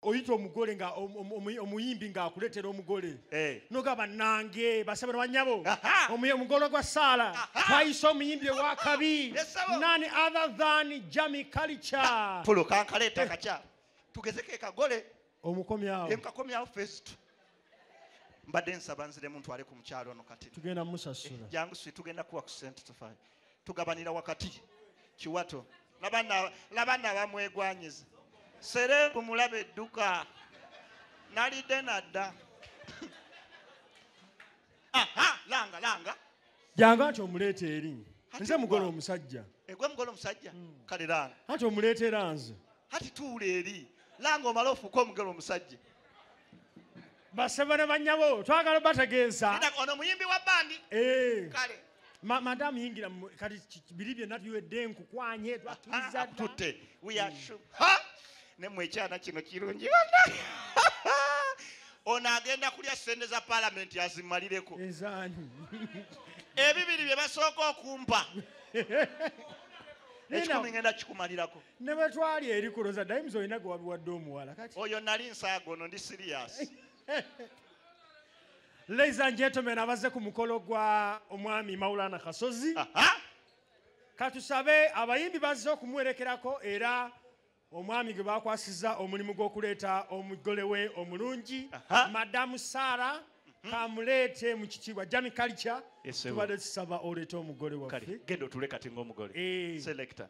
oyita omugole nga omuyimbi nga akuletera omugole eh. noga banange basabe banyabo omugole gwa saala twayisa omuyimbi ewakabi nani other than jami kalica fulukankaleta eh. kaca tugezeko ekagole omukomyawo emkakomyawo fest mbadde nsaba nziremu ntwale ku mukyalo ono kati tugenda musasula eh, jangu si tugenda kuwa ku sente tufayo tugabanira wakati kiwato labana abamwegwanyiza sereebu mulaba edduka nalidde nadda langa langa janga nti omuleeta eri nze mugole omusajja egwe mugole omusajja hmm. kale langa anti omuleetera nze hati tuula eri langa omala ofuuka omugole omusajja basebo ne banyabo twagala bategeeza ono muyimbi wa bandi eh. kale Ma- madamu yingira mu- kati ki- ki- biri byonna tuwedde enkukwanye twakiriza Ah, dda. tutte we are sure. Ha! ne mwe ekyana kino kirungi bana ono agenda kulya sente za palamenti azimalireko ezaani ebibiri bye basooka okumpa Nina- ekikumi ngenda kikumalirako ne bwe twali eri kuloza dayimuzi olina gwe wabiwadde omuwala kati oyo nali nsaaga ono ndi siriyasi ladies and gentlemen abaze ku mukolo gwa omwami maulana kasozi katusabe abayimbi bazze okumuwerekerako era omwami gwe bakwasiza omulimu gw'okuleeta omugole we omulungi madamu sara mhm. kamuleete mu kitiibwa jami kalica tubadde tusaba oleeta omugole waffe genda otule kati ngaomugole eh. selecta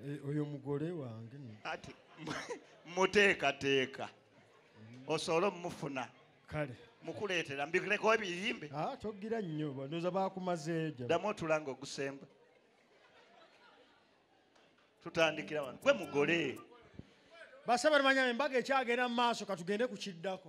Eh, oyo mugole wange ati muteekateeka osobola omufuna kale mukuleetera mbireko ebiyimbe ah, togira nnyo bandoza bakumazeejo ddamu otulanga ogusemba tutandikira wano gwe mugole basaba limanya embaga ekyagenda mu maaso katugende ku kiddako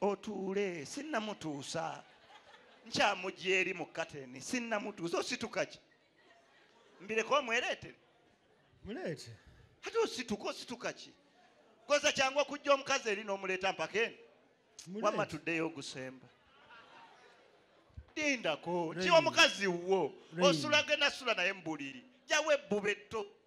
otuule sinnamutuusa nkyamugya eri mu kateni sinnamutuusa ositukaki mbireka omwereetere muleete ate osituka ositukaki koza kyangu okujja omukazi eri n'omuleeta mpaka eno wamma tuddeyo ogusemba lindako kiwa mukazi wo osulagenda sula naye mubuliri jawo ebbube tto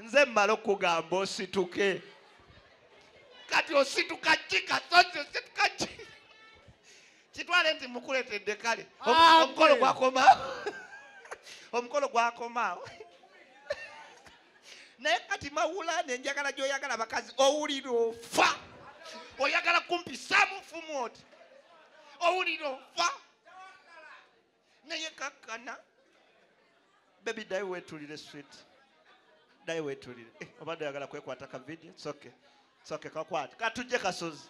nze mmala okugamba osituke kati osituka ki kasozi osituka ki kitwale nti mukuletedde kale omukolo gwakomaawo omukolo gwakomaawo naye kati mawulane njagala gyoyagala abakazi owulira ofa oyagala kumpisamu fumu oti owulira ofa naye kakkana bebi ddayi weetulire swit ddayi weetulire eh, obadde oyagala kwekwata ka vidiyo soke soke kakwate katujje kasozi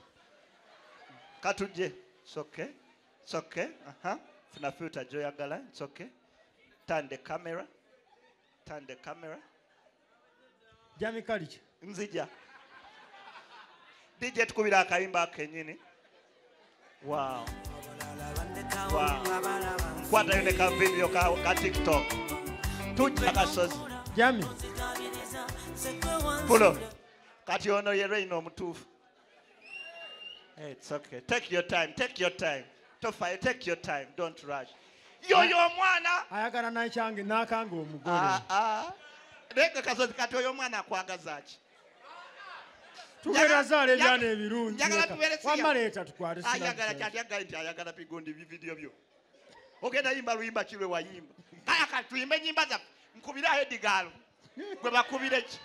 katujje soke soke funa filta gyoyagala soke tande camera Turn the camera. Jami Kalicha. Nzija. DJ tukubira akayimba kenyini. Wow. Wow. Kwata yone ka video ka, ka TikTok. Tujja kasozi. Jami. Pulo. Kati ono ye Reino omutuufu. Hey, it's okay. Take your time. Take your time. Tofa, take your time. Don't rush. Yo yo mwana. Ayagala na change na kango omugole. Ah ah. Leka kazo kati yo mwana kwagaza ki. Tugera zale jana ebirungi. Yagala tubere siya. Wama leta tukware siya. Ayagala kati ayagala nti ayagala pigondi bi video byo. Ogenda yimba luyimba kilwe wayimba. Kaya kati tuyimbe nyimba za nkubira head galo. gwe bakubire ki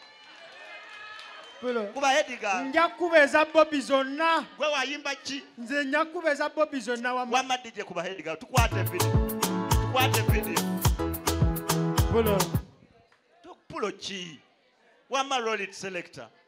kuba hediga nja kukuba eza bobi zonna gwe wayimba ki nze nja kukuba eza bobi zonna wamma dije kuba hediga tukwate vidio tukwate vidio pulo pulo ki wamma rolit selector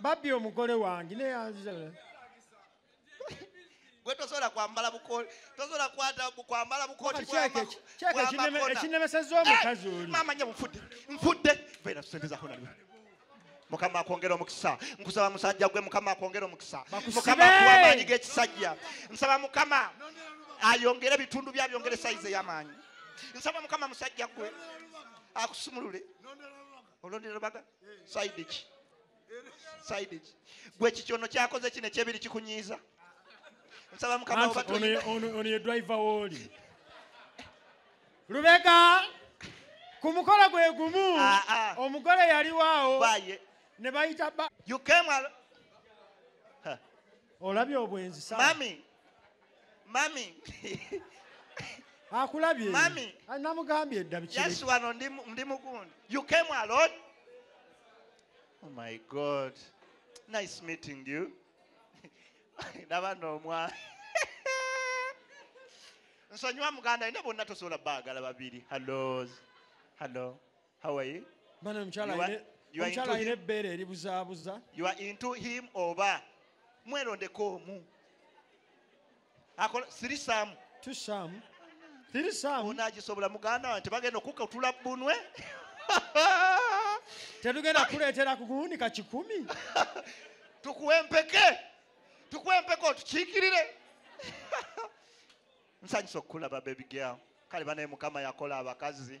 babbye omugole wange gwe tosobola kwambala bukoli tosobola kwata kwambala bukoti ekinemeseza omukazi oli mama nya mfudde mfudde vera sente za hona mukama akwongera omukisa nkusaba musajja gwe mukama akwongera omukisa mukama akuwa amaanyi g'ekisajja nsaba mukama ayongere ebitundu bye abyongere sayizi ey'amaanyi nsaba mukama musajja gwe akusumulule olondera baga side ki side ki gwe kikyono kyakoze kino ekyebiri kikunyiiza nsaba mukama ono ye driver woli lubega ku mukolo gwe gumu ah, ah. omugole yaliwaawo ne bayita olabye obwenzi mami mami akulabye mami ah, namugambye edda biki yes wano ndi ndi mugundi you came alone oh my god nice meeting you ndaba nomwa nsonyiwa muganda ine bonna tosobola baagala babiri hallo hallo How are you? Bana mchala you are, you are mchala ile bere libuza buza. You are into him oba. Mwero ndeko mu. Akola siri sam. Tu sam. Siri sam. Unaji sobula muganda wante bagenda okuka utula bunwe. Tetugenda kuletera kukuunika kikumi. Tukuwe mpeke. Tukuwe mpeke otukikirire. Nsanyusa okukulaba baby girl. Kale banaye mukama yakola abakazi.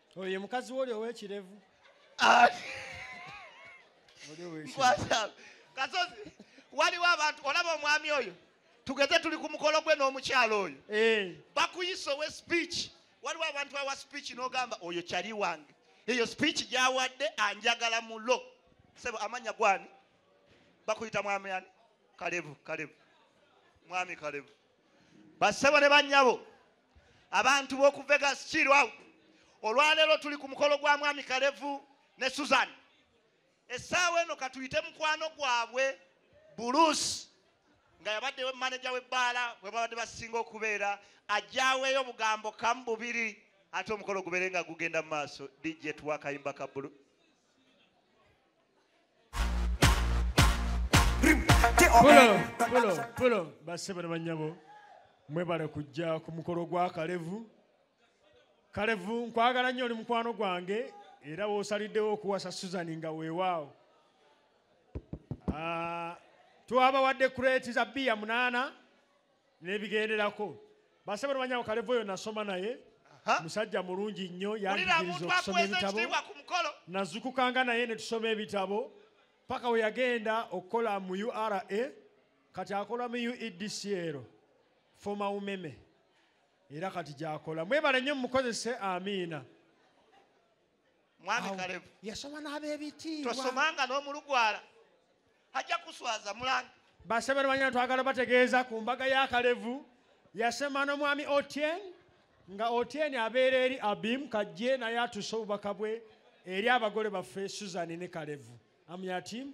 oyo ye mukazi woli owekirevu ah. kasozi waliwo abantu olaba omwami oyo tugeze tuli ku mukolo gwe n'omukyalo oyo eh. bakuyisa owe speech waliwo abantu awa speech n'ogamba oyo kyali wange eyo speech gyawadde anjagala mulo sebo amanya gwani bakuyita mwami ani kalevu kalevu mwami kalevu basebo ne banyabo abantu b'oku vegas kiiru out olwaleero tuli ku mukolo gwa mwami kalevu ne susan essaawa eno katuyite mukwano gwabwe buluusi nga yabadde maneja w'ebbaala bwe babadde basinga okubeera ajjaweeyo obugambo kamu bubiri ate omukolo gubeere nga gugenda mu maaso dj tuwa akayimba ka buluusi basebale banyabo mwebale kujja ku mukolo gwa kalevu kalevu nkwagala nnyo oli mukwano gwange era wosaliddewo okuwasa suzani nga weewaawo ah, twabawadde kureeti za biya munaana nebigenderako basebo nobanyawo kalevo yo nasoma naye musajja mulungi nnyo yanjigiriza okusoma ebitabo nazukukanga naye netusoma ebitabo paka weyagenda okukola mu ura kati akola mu uedcl foma umeme era kati gyakola mwebale nnyo mumukozese amiina mwami kalevu yasoma n'abebitiibwa tosomanga n'omulugwala ajja kuswaza mulanga basebere banyana twagala bategeeza ku mbaga ya kalevu yasema n'omwami otien nga otien abeera eri abim kajje naye atuuse obubaka bwe eri abagole baffe suzan ne kalevu amyatim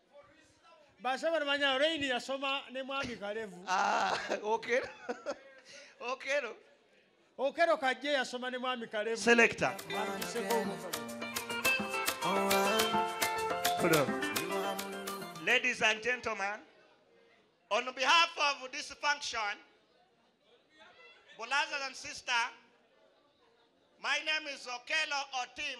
basaba nemanya reini yasoma ne mwami kalevu ah, okero okero okero kajje yasoma ne mwami kalevu selector Ladies and gentlemen, on behalf of this function, brothers and sisters, my name is Okelo Otim.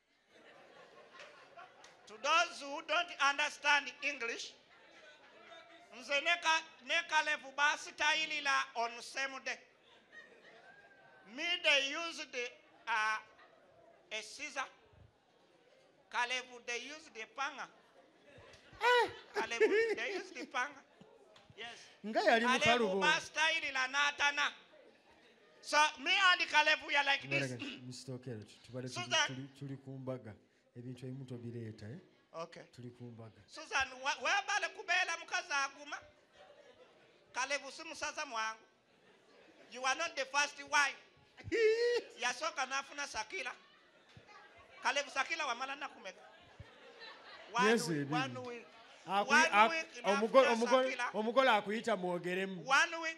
to those who don't understand english nze ne kalevu basitayilila on same day me they used uh, a scissor kalevu they used a panga eh. kalevu they used a panga yes nga yali mukalubo basitayilila natana So me and Caleb we are like this. Msitokero tubale tuli tuli kumbaga ebintu ebimu tobireeta eh. Okay. Tuli kumbaga. Susan webale kubeera mukazi aguma. Caleb si musaza mwangu. You are not the first wife. Yasooka n'afuna Sakila. Caleb Sakila wamala nakumeka. One, yes, week, one week. Omugole akuyita mwogeremu. One week.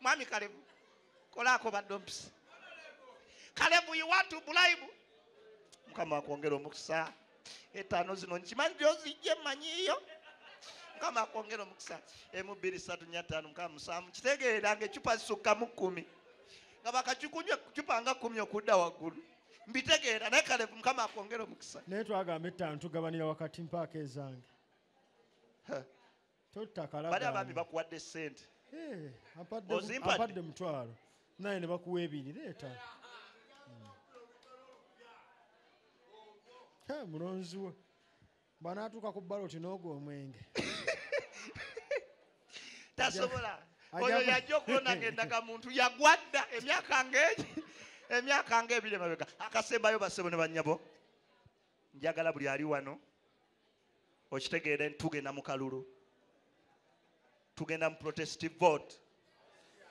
mwami kalevu kolaako badompisi kalevu you want to bribe mukama akwongera omukisa etaano zino nkimanyi gyozijje manyiyo mukama akwongera omukisa emu bbiri satu nya ttaano mukama musanvu kitegeera nga ecupa zisukka mu kkumi nga bakakikunywa cupa nga kkumi okudda waggulu mbitegeera naye kale mukama akwongera omukisa naye twagamba ettaano tugabanira wakati mpaaka ezange bali abaami bakuwadde sente ozimpadde mutwalo naye ne bakuwa ebiri leeta hmm. mulonzi we banaatuuka ku baloti n'ogwo omwenge tasobola oyo yajja okulonda ngendaga muntu yagwadda emyaka ngegi emyaka ngaebiri emabega akasembayo basebo ne banyabo njagala buli ali wano okitegeera nti tugenda mu kalulu tugenda mu protestive vote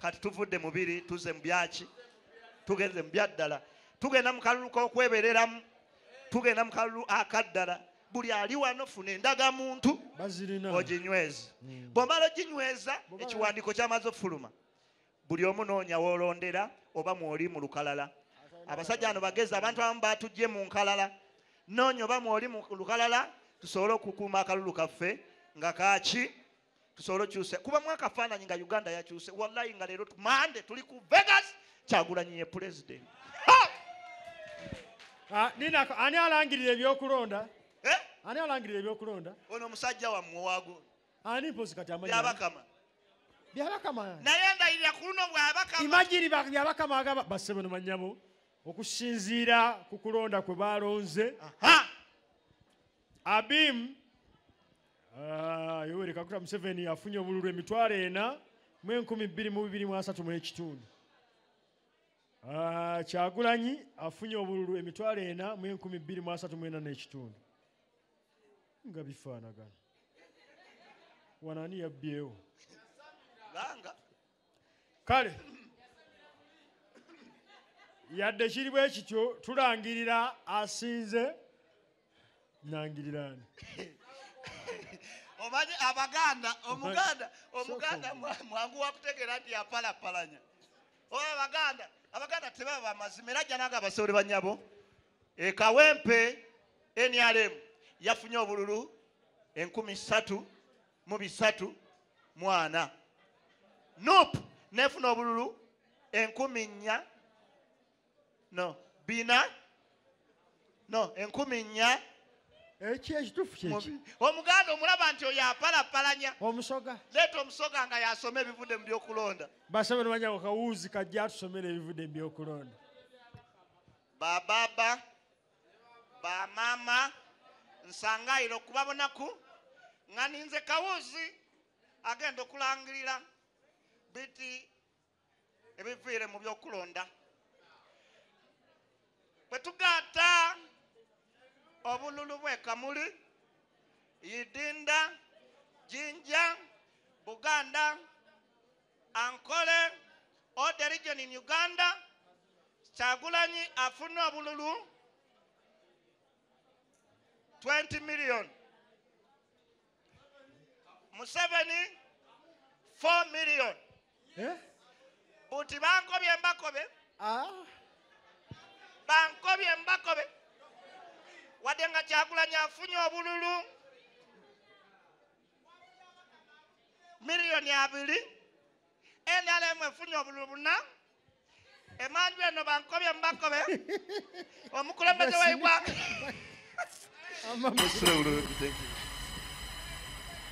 kati tuvudde mubiri tuze mubyaki tugenze mubyaddala tugenda mu kalulu k'okwebereramu tugenda mu kalulu akaddala buli ali wano funa endaga muntu oginyweze hmm. bwomala oginyweza ekiwandiiko kyamaze okufuluma buli omu noonya wolondera oba mwoli mu lukalala abasajja ano bagezi abantu abamu batujje mu nkalala noonya oba mwoli mu lukalala tusobole okukuuma akalulu kaffe nga kaki tusobole okyuse kuba mwakafaananyi nga uganda yakyuse wallayi nga leero mande tuli ku vegas kyagulanyi ye pulezidenti ah, ani alangirira ebyokulonda eh? ani alangirira ebyokulonda ono omusajja wammwe wagu ani mpozi kati amanyi byabakama byabakama naye ndayirira ku luno bwabakama imagine byabakama agaba basebe no manyabo okusinziira ku kulonda kwe balonze abim ah, yoweri kakuta museveni afunye obululu emitwalo ena mu enkumi bbiri mu bibiri mu asatu mu ekitundu Ah, kyagulanyi afunye obululu emitwalo ena mu enkumi bbiri mu asatu mu ena n'ekitundu nga bifaanagana wano ani yabbyewo kale yadde kiri bwe kityo tulangirira asinze nangiriraani omanyi abaganda omuganda omuganda mwangu wakutegeera nti yapalapalanya oba abaganda abaganda tebaba bamazima era janaga abasoole banyabo E Kawempe NRM yafunye obululu enkumi ssatu mu bisatu mu ana. NUP n'efuna obululu enkumi nnya no bina no enkumi nnya ekyo ekitufu kyeki omuganda omulaba nti oyo apalapalanya omusoga leeta omusoga nga yasoma ebivudde mu byokulonda basaba nomanyako kawuuzi kajja atusomera ebivudde mu byokulonda ba baba ba mama nsangaire okuba bonaku nga ninze kawuzi agenda okulangirira biti ebiviire mu byokulonda bwe tugaata obululu bwekamuli yidinda jinja buganda Ankole or the region in Uganda, Kyagulanyi afuna obululu 20 million. Museveni 4 million. Eh? Buti bankobye mbakobe. Ah. Bankobye mbakobe. Wadenga Kyagulanyi afunye obululu miliyoni abiri nrm efunye obululu buna emanju eno bankobye mubakobe omukulembeze waigwanga